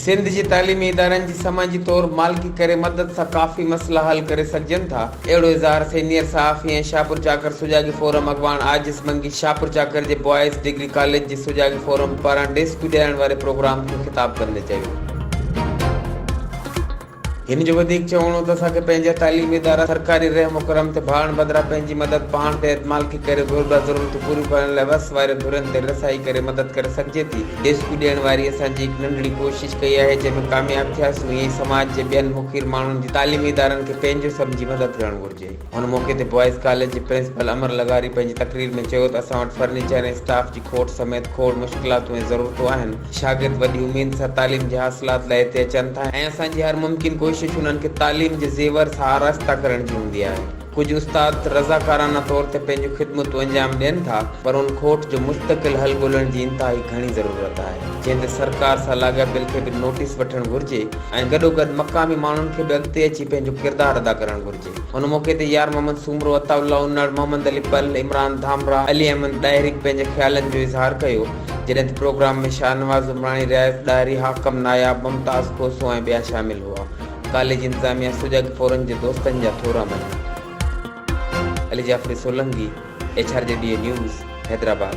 سنڌ جي تعليمي ادارن جي سماجي طور مالڪي ڪري مدد سان ڪافي مسئلا حل ڪري سگهجن ٿا اهڙو اظهار سينيئر صحافي ۽ شاهپورچاڪر سجاڳي فورم اڳواڻ عاجز منگي شاهپورچاڪر جي بوائز ڊگري ڪاليج جي سجاڳي فورم پاران ڊيسڪيو ڏيارڻ واري پروگرام کي خطاب ڪندي چيو هن جو وڌيڪ چوڻ هو ته اسان کي پنهنجا تعليمي ادارا سرڪاري رحم و ڪرم تي ڀاڙڻ بدران پنهنجي مدد پاڻ تي اعتمالڪي ڪري گهربل ضرورتون پوريون ڪرڻ لاء وس وارين ڌرين تائين رسائي ڪري مدد ڪري سگهجي ٿي. ديسڪو ڏيڻ واري اسان جي هڪ ننڍڙي ڪوشش ڪئي آهي جنهن ۾ ڪامياب ٿياسون ائين ئي سماج جي ٻين مخير ماڻهن جي تعليمي ادارن کي پنهنجو سمجهي مدد ڪرڻ گهرجي. هن موقعي تي بوائز ڪاليج جي پرنسپل امر لغاري پنهنجي تقرير ۾ چيو ته اسان وٽ فرنيچر ۽ اسٽاف جي کوٽ سميت کوڙ مشڪلاتون ۽ ضرورتون آهن، شاگرد وڏي اميد سان تعليم جي حاصلات لاء هتي اچن ٿا ۽ اسان جي هر ممڪن ڪوشش انهن کي تعليم جي زيور سان آراسته ڪرڻ جي هوندي آهي. ڪجهه استاد رضاڪارانه طور تي پنهنجون خدمتون انجام ڏين ٿا پر ان کوٽ جو مستقل حل ڳولڻ جي انتهائي گهڻي ضرورت آهي جنهن تي سرڪار سان لاڳاپيل کي به نوٽيس وٺڻ گهرجي ۽ گڏوگڏ مقامي ماڻهن کي به اڳتي اچي پنهنجو ڪردار ادا ڪرڻ گهرجي. ان موقعي تي يار محمد سومرو، عطاء الله انڙ، محمد علي پل، عمران ڌامراهه، علي احمد ڏاهري به پنهنجي خيالن جو اظهار ڪيو، جڏهن ته پروگرام ۾ شاهنواز عمراڻي، رياض ڏاهري، حاڪم ناياب، ممتاز کوسو ۽ ٻيا شامل هئا. ڪاليج انتظاميه سجڳ ڦورن جي دوستن جا ٿورا مڃي. Ali Jafri Solangi, H R G D A news, Hyderabad.